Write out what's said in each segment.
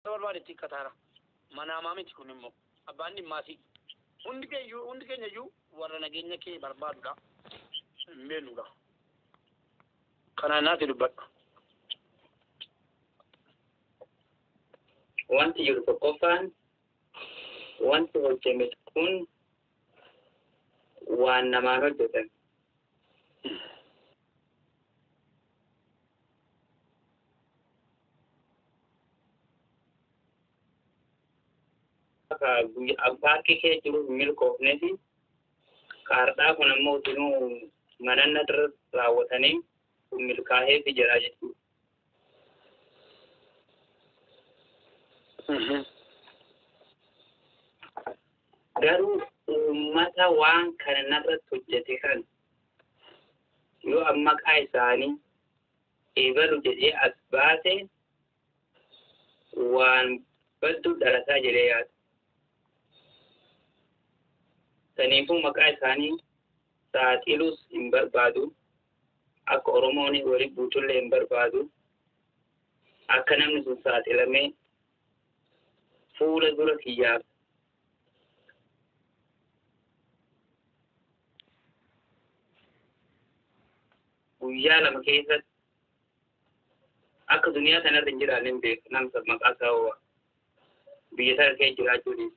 barbaadetti kataara manaamaa miti kun immoo abbaan dhimmaati hundi keeyyuu hundi keenya iyyuu warra nageenya kee barbaadudha hin beeknudha kanaan naati dubbadha Wanti jiru tokkoffaan wanti hojjeme kun waan namaan hojjetame. paarkii kee jiru hin milkoofne fi kaardhaa kun ammoo utinuu mananna irra raawwatanii kun milkaa'ee fi jedhaa jechuudha. Garuu uummata waan kana narratti hojjete kan yoo an maqaa isaanii eebalu jedhee as baase waan badduu dhalataa jedhee yaada. Saniifuu maqaa isaanii saaxiluus hin barbaadu. Akka Oromoon wali buutullee hin barbaadu. Akka namni sun saaxilamee fuula dura kiyyaa guyyaa lama keessatti akka duniyaa kanarra hin jiraanne hin beeku namsa maqaa isaa hoo'a biyya sana kee jiraachuu dhiisu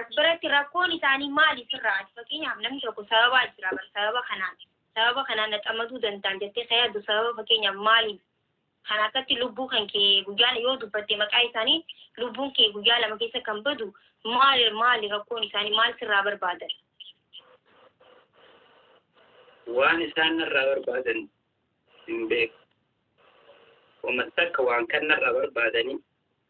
As biratti rakkoon isaanii maali sirraa ati fakkeenyaaf namni tokko sababaa jira bar sababa kanaan sababa kanaan na xamaduu danda'an jettee kan yaaddu sababa fakkeenyaaf maaliif kan akkatti lubbuu kan kee guyyaa yoo dubbatte maqaa isaanii lubbuun kee guyyaa lama keessa kan badu maali maali rakkoon isaanii maal sirraa barbaadan waan isaan narraa barbaadan hin beeku. Wama takka waan kan narraa barbaadanii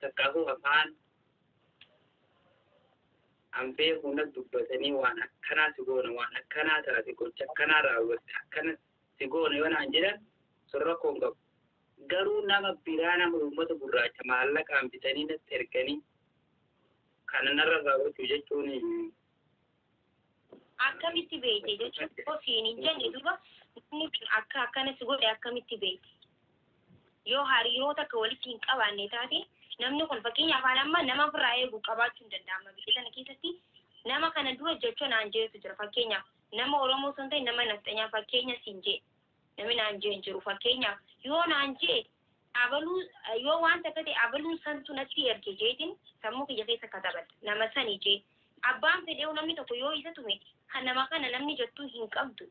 Takkaahuu afaan an beeku na dubbatanii waan akkanaa si goona waan akkanaa taate gocha akkanaa raawwatte akkana si goona yoo naan jedhan sun rakkoo hin qabu. Garuu nama biraa nama uummata gurraacha maallaqaan bitanii natti erganii kana narra raawwachuu jechuun akkamitti beekte jechuun yoo siin hin jenne duba namni kun akka akkana si godhe akkamitti beekte yoo hariiroota akka walitti hin qabaanne taate namni kun fakkeenya afaan amma nama ofirraa eegu qabaachuu hin danda'ama biyya kana keessatti nama kana dura jecha naan jeetu jira fakkeenyaaf nama oromoo osoo hin ta'in nama nafxanyaa fakkeenya siin jee Nami naan je'e hin jiru. Fakkeenyaaf, yoo naan je'e, abaluu, yoo waan takka ta'e abaluun santu natti erge je'eetiin sammuu kiyya keessa katabadha. Nama sani je'e. Abbaan fedhe'uu namni tokko yoo isa tume, ka nama kana namni jettu hin qabdu.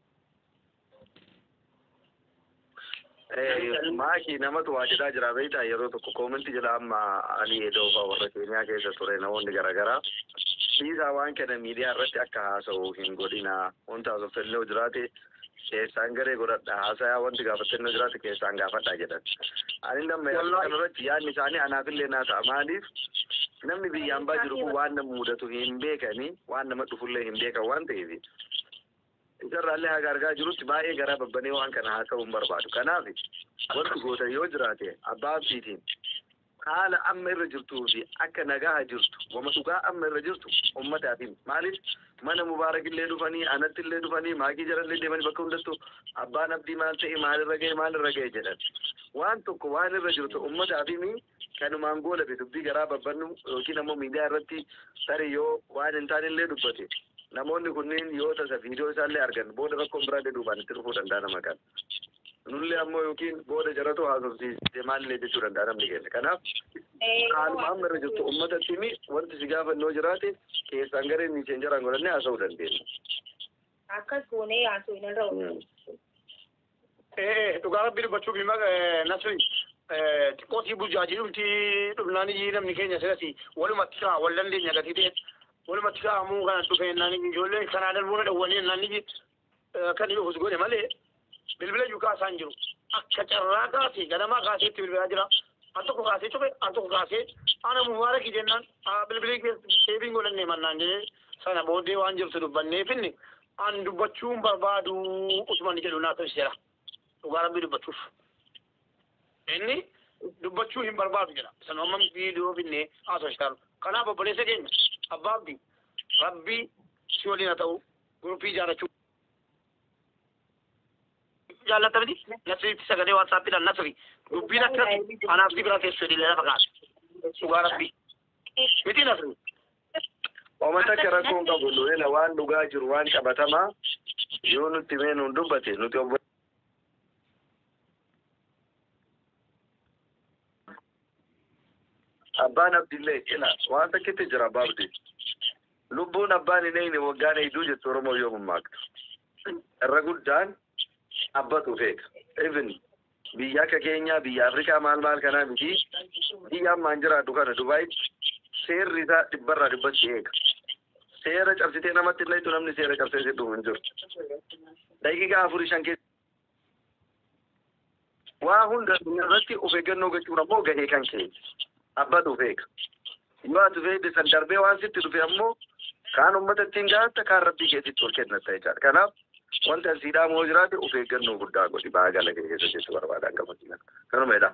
Eh, Maaki namatu waa jedhaa jira beektaa yeroo tokko koominti jedha amma ani edoofaa warra keeniyaa keessa ture namoonni garaagaraa dhiisaa waan kana miidiyaa irratti akka haasa'u hin godhina wanti haasoffellee jiraate keessaan garee godhadha haasayaa wanti gaafattannoo jiraate keessaan gaafadha jedhan. Ani nama yaadu Wallaahi. kanarratti yaadni isaanii anaafillee naa ta'a maaliif namni biyya ambaa jiru kun waan nama mudatu hin beekani waan nama dhufullee hin beekan waan ta'eef isarraallee haga argaa jirutti baay'ee garaa babbanee waan kana haasa'uu hin barbaadu. Kanaaf wanti gootan yoo jiraate abbaa abdiitiin Haala amma irra jirtuu fi akka nagaha jirtu wama dhugaa amma irra jirtu ummataaf himi. Maaliif mana Mubaarakillee dhufanii, anattillee dhufanii, maakii jarallee deemanii bakka hundattuu abbaan Abdii maal ta'e, maal irra gahe, maal irra gahe jedhan. Waan tokko waan irra jirtu ummataaf himi kanumaan goolabi dubbii garaa babbannu yookiin ammoo miidiyaa irratti tarii yoo waan hin taanellee dubbate namoonni kunniin yoo tasa viidiyoo isaallee argan booda rakkoon biraallee duubaan itti dhufuu danda'a nama kan. Nullee ammoo yookiin booda jaratu haasofsiiste maallee jechuu danda'a namni keenya. Kanaaf haaluma amma irra jirtu uummata timi wanti si gaafannoo jiraate keessaan gareen miiseen jaraan godhannee haasa'uu dandeenya. Akkas goonee yaasuu hin irra oolu. Dhugaa rabbi dubbachuuf hima nasri xiqqoo sii burjaajii dhumti dhumnaan iyyii namni keenya sirasi walumatti kaa wal dandeenya gatii ta'e walumatti kaa ammoo kana dhufeennaan ijoollee kanaa darbuu na dhawwanii ennaan iyyii Kan inni ofis godhe malee bilbila iyyuu kaasaa hin jiru. Akka carraa kaasee ganamaa kaasee itti bilbilaa jira. Al tokko kaasee cufe al tokko kaasee ana mubaarakii jennaan bilbilii deebiin godhannee mannaan jedhee sana booddee waan jirtu dubbannee finne an dubbachuun barbaadu utuman jedhu naa tolchera. Dhugaa rabbii dubbachuuf. Inni dubbachuu hin barbaadu jedha. Sana amma viidiyoo finne haasofsitaan. Kanaaf obboleessa keenya abbaa abdii rabbii si waliin haa ta'u Guruppii ijaarrachuu. Jaallatta miti? Nasriitti sagalee waatsaappiidhaan nasri. Dubbiin akka anaaf si bira teessu jedhee lafa kaasa. Dhugaa rabbi. Miti nasri. Oma takka rakkoo hin qabu nuhela waan dhugaa jiru waan qabatamaa yoo nutti mee nuun dubbate nuti obbo Abbaan abdillee cina waan takkitti jira abbaa abdi. Lubbuun abbaan hin eeyne waggaan eeyduu jettu Oromoo yoo mammaaktu. Irra guddaan abbatu feeka. Even biyya akka keenyaa biyya Afrikaa maal maal kanaa miti biyya ammaan jiraadhu kana Dubaayitti seerri isaa dhibbarraa dhibbatti eega. Seera cabsitee namatti illee namni seera cabsee si dhumu hin jiru. Daqiiqaa afurii shan keessa Waa hunda irratti of eeggannoo gochuun ammoo gahee kan kee abbatu of eega. Yoo ati of eegde san darbee waan sitti dhufe ammoo kaan ummata ittiin gaatta kaan rabbii keetitti ol kennatta jechaadha. Kanaaf wanti an sii dhaamu yoo jiraate of eeggannoo guddaa godhi baagala kee keessa jechu barbaada hanga fakkiina. Kanuma jedhaa.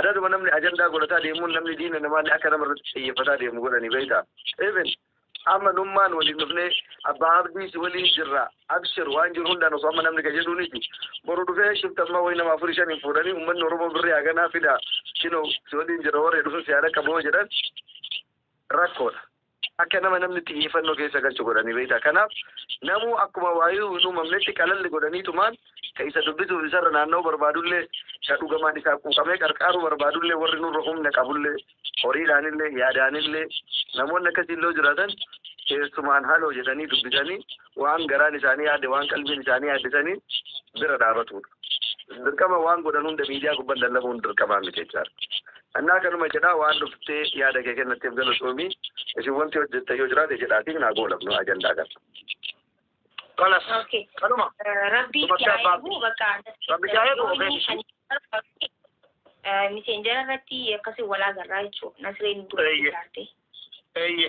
Adaaduma namni ajandaa godhataa deemuun namni diina namaallee akka nama irratti xiyyeeffataa deemu godhanii beektaa. Even amma nummaan waliin dhufnee abbaa abdiis waliin jirra abshir waan jiru hundaan osoo amma namni ka jedhuuniti boru dhufee shiftamma wayi nama afurii shaniin fuudhanii ummanni oromoo birrii haganaa fida kino si waliin jira warri dhufu si haadha qaboo jedhan rakkoodha. Akka nama namni xiyyeeffannoo keessa galchu godhani beektaa? Kanaaf namuu akkuma waayuu hin uumamnetti qalalli godhaniitumaan ka isa dubbisuuf isarra naanna'uu barbaadullee, ka dhugamaan isaaf quuqamee qarqaaruu barbaadullee, warri nurra humna qabullee, horiidhaanillee, yaadaanillee, namoonni akkasiillee yoo jiraatan, keessumaan haloo jedhanii dubbisanii, waan garaan isaanii yaadde waan qalbiin isaanii yaadde saniin bira dhaabatuudha. Dirqama waan godhan hunda miidiyaa gubban lallabuun dirqamaa miti jechaadha. Annaa kanuma jedhaa waan dhuftee yaada kee kennatteef galatoomii isin wanti hojjettan yoo jiraate jedhaatiin naa goolabnu ajandaa kana. Kanas Okay. kanuma Rabbi Bakka itti abbaa- eegu bakka Rabbi itti haa eegu, of eegu. miseenjara irratti akkasii walaa garraa jechuudha. Nasreen Eeyyee. dubbatti eeyye.